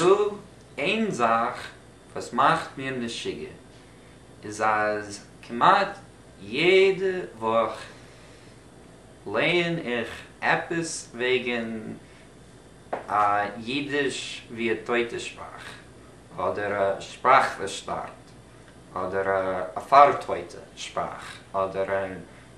נאר איין זאך וואס מאכט מיר משוגע איז אז כמעט יעדע וואך לייען איך עפעס וועגן א אידיש ווי א טויטע שפראך אדער א שפראך וואס שטארבט אדער א פארטויטע שפראך אדער א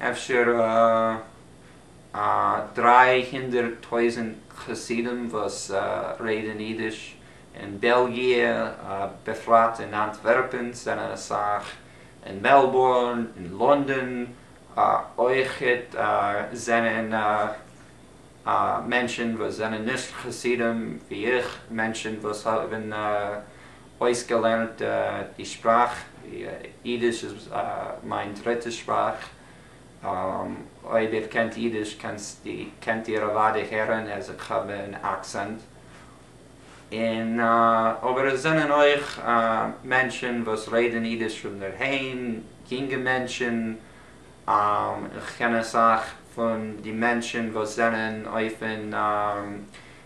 אפשר א דריי הונדערט טויזענט חסידים וואס רעדן אידיש אין בעלגיע, בפרט אין אנטווערפען, ס'זענען אסאך אין מעלבורן, אין לונדון אויך זענען מענטשן וואס זענען נישט חסידים ווי איך, מענטשן וואס האבן. אויסגעלערנט די שפראך, אידיש איז מיין דריטע שפראך, אויב איר קענט אידיש קענט איר אוודאי הערן אז איך האב אן אקסענט, און אבער עס זענען אויך מענטשן וואס רעדן אידיש פון דערהיים, יונגע מענטשן, איך קען אסאך פון די מענטשן וואס זענען אויפן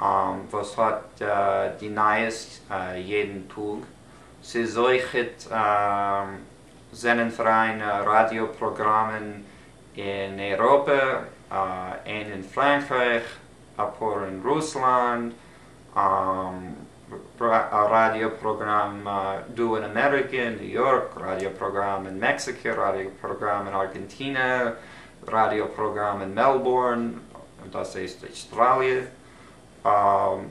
וואס האט די נייעס יעדן טאג, ס'איז אויך זענען פאראיין ראדיא פראגראמען אין אייראפע, איין אין פראנקרייך, אפאר אין רוסלאנד, א ראדיא פראגראם דא אין אמעריקע אין ניו יארק, ראדיא פראגראם אין מעקסיקא, ראדיא פראגראם אין ארגענטינע, ראדיא פראגראם אין מעלבורן, דאס הייסט אויסטראליע,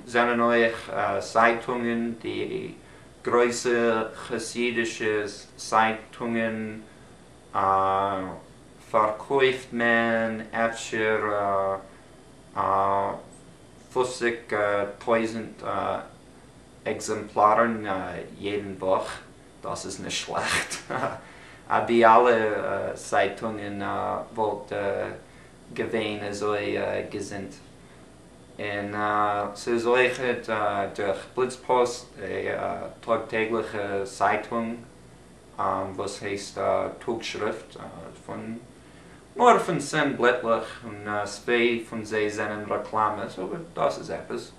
זענען אויך צייטונגען, די גרויסע חסידישע צייטונגען פארקויפט מען אפשר א פוסיק טויזנט עקזעמפלארן יעדן וואך, דאס איז נישט שלעכט. אט די אלע צייטונגען וואלט געווען אזוי געזונט. און ס'איז אויך דורך בליצפאסט, די טאג טעגליכע צייטונג וואס הייסט טאג שריפט, פון נאר פון צען בלעטלעך און צוויי פון זיי זענען רעקלאמעס אבער דאס איז עפעס.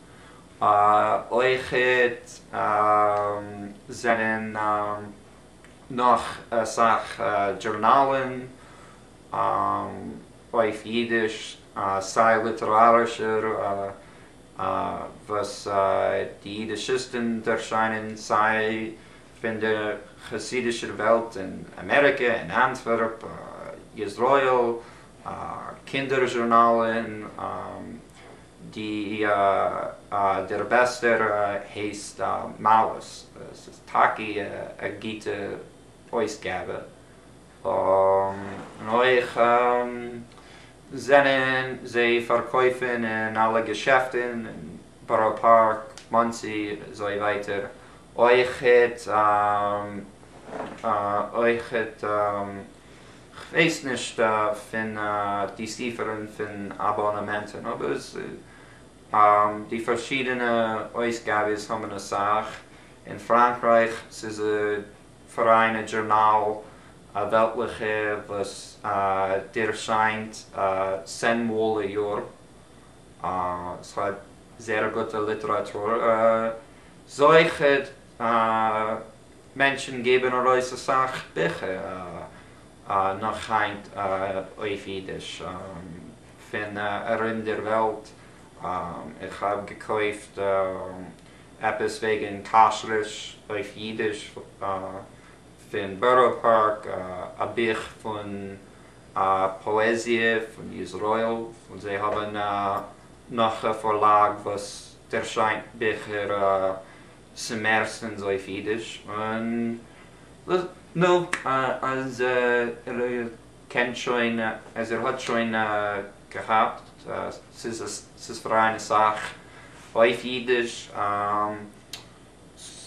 אויכעט זענען נאך אסאך דזשורנאלן אויף אידיש, סיי ליטערארישע וואס די אידישיסטן ערשיינען, סיי פון דער חסידישער וועלט אין אמעריקע, אין אנטווערפ, איזראעל, קינדער זשורנאלן. די דער בעסטער הייסט מעלות, עס איז טאקע א גוטע אויסגאבע, און אויך זענען זיי פארקויפן אין אלע געשעפטן אין בארא פארק, מאנסי, אזוי ווייטער, אויכעט כ'ווייס נישט פון די ספרים פון אבאנאמענטן אבער די פארשידענע אויסגאבעס האבן אסאך, אין פראנקרייך ס'איז א פאראיינע דזשורנאל א וועלטליכע וואס ערשיינט צען מאל א יאר, ס'האט זערא גוטע ליטעראטור זוכה. מענטשן געבן ארויס אסאך ביכער נאך היינט אויף אידיש פון ארום דער וועלט, איך האב געקויפט עפעס וועגן כשרות אויף אידיש פון בארא פארק, א בוך פון פאעזיע פון איזראעיל, און זיי האבן נאך א פארלאג וואס ערשיינט ביכער. ס'מערסטענס אויף אידיש און לאז נו אז ער קען שוין אז ער האט שוין געהאפט ס'איז פאראיין אסאך אויף אידיש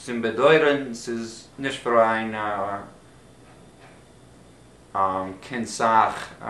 צום באדויערען ס'איז נישט פאראיין קיין סאך א.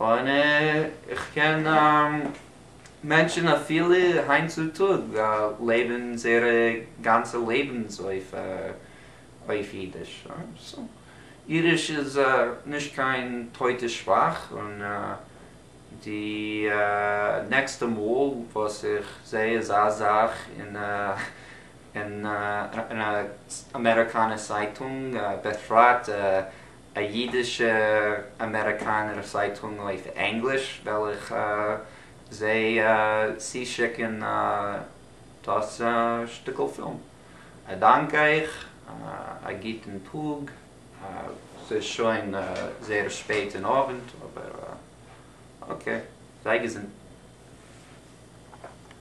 און איך קען מענטשן אפילו היינט צו טאג לעבן זייערע גאנצע לעבנס אויף אידיש, סא אידיש איז נישט קיין טויטע שפראך, און די נעקסטע מאל וואס איך זעה אזא זאך אין א אמעריקאנע צייטונג בפרט, א אידישע אמעריקאנער צייטונג אויף ענגליש וועל איך זיי צושיקן דאס שטיקל פילם. א דאנק אייך, א גוטן טאג. ס'איז שוין זייער שפעט אין אווענט אבער אקעי, זיי געזונט.